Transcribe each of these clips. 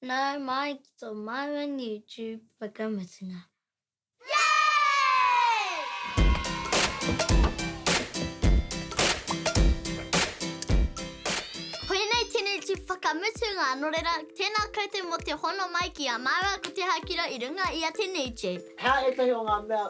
Nau mai ki tō māua YouTube whakamutunga. Koinei tēnei tū whakamutunga, nō reira, tēnā koutou mō te hono mai ki a māua ko Te Hakira i runga i a Te Nū Tube. He aha ētahi o ngā mea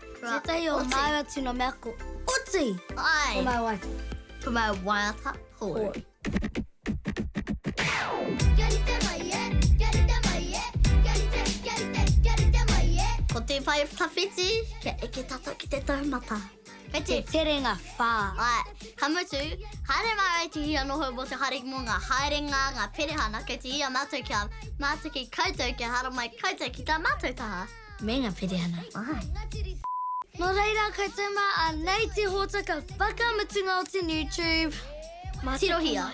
Tētahi o māua tino mea ko oti. Ai. Ko māua waiata. Ko māua waiata hou. Ko te whai tawhiti, kia eke tatou ki te taumata. Kei te terenga whā. Ai, ka mutu, haere māua i te hia noho mō te hari mō ngā haerenga, ngā perehana, kei te hia mātou kia mātaki koutou, kia haramai koutou ki tā mātou taha. Me nga perehana. Ai. No reira koutou ma anei te hotaka whakamutunga o te new tube. Ma tirohia.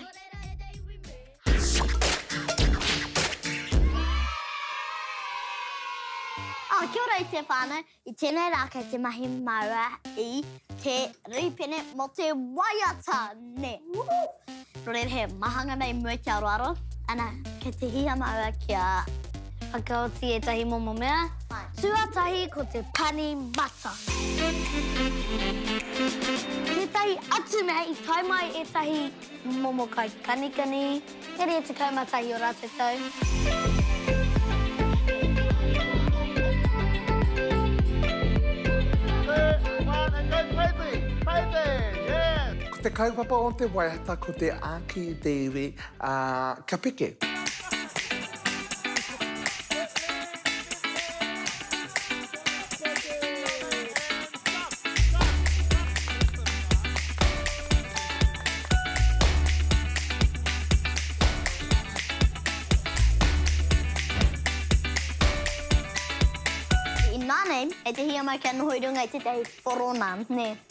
Oh, kia ora e te whānau. I tēnei rā kei te mahi māua i te rīpene mō te waiata, nē. Rere he mahanga nei mua ki Aroaro. Ana, kei te hiha maua kia whakaoti etahi momo mea. Tuatahi ko te pani mata. Tetahi atu mea i tae mai etahi momo kai kanikani, e rua tekau ma tahi o ratou tau. Two, one and go crazy! Crazy! Yes! Te kaupapa o te waiata ko te āki i te iwi, ā, kia peke. In my name, e te hiamai kia noho i runga i tētahi whoro nā, nē.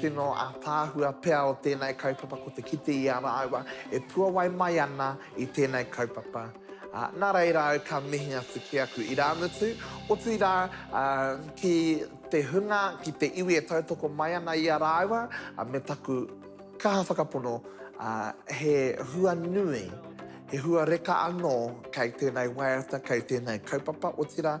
Tino ataahua pea o tenei kaupapa ko te kite i a raaua e puawai mai ana i tenei kaupapa. Na reira au ka mihi atu ki aku iraamutu, otiira ki te hunga, ki te iwi e tautoko mai ana i a raaua, me taku kaha whakapono he hua nui, he hua reka anoo kei tenei waiata, kei tenei kaupapa, otira,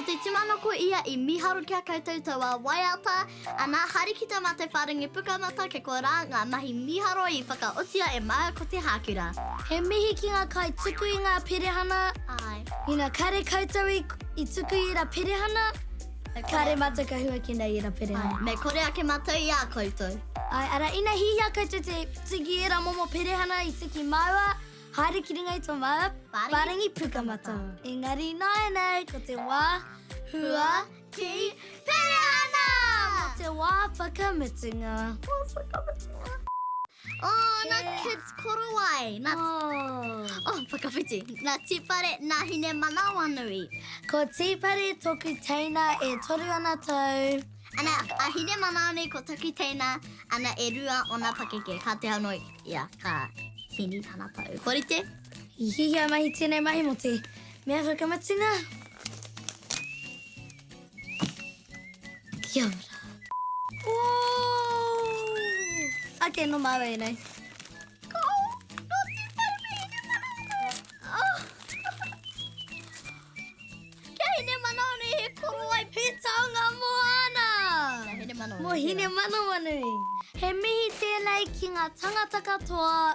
Ko te tumano ko ia i miharo ki a koutou taua waiata, ana haere ki te mate wharengi pukamata ke koa ra nga mahi miharo i whakaotia e maua ko te hakura. He mihi ki nga kai tuku i nga perehana. Ina kare koutou i tuku i era perehana, Kāre mātou ka hua ki nei era pereha. Āe, me kore ake mātou i a koutou. Āe, ara, ina hihia koutou te tuki i era momo perehana i tuki māua, haere ki runga i tō māua wharengi pukamata. Engari nāianei ko te wā hua ki perehana! Nā te wā whakamutunga. Wā whakamutunga. Oh, nā Kids Korowai, nā... Oh. Oh, whakawhiti. Nā Tīpare, nā Hinemanawanui. Ko Tīpare toku teina e toru ana tau. Ana, a Hinemanawanui ko taku teina, ana, e rua ona pakeke. Ka te hauno ia, ka hini tana pou. Kua rite? I hihia mahi tēnei mahi mō te mea whakamatunga. Kia ora. Ooh! Ake, no maua e nei. Mo hine manawanui. He mihi tēnei ki ngā tangata katoa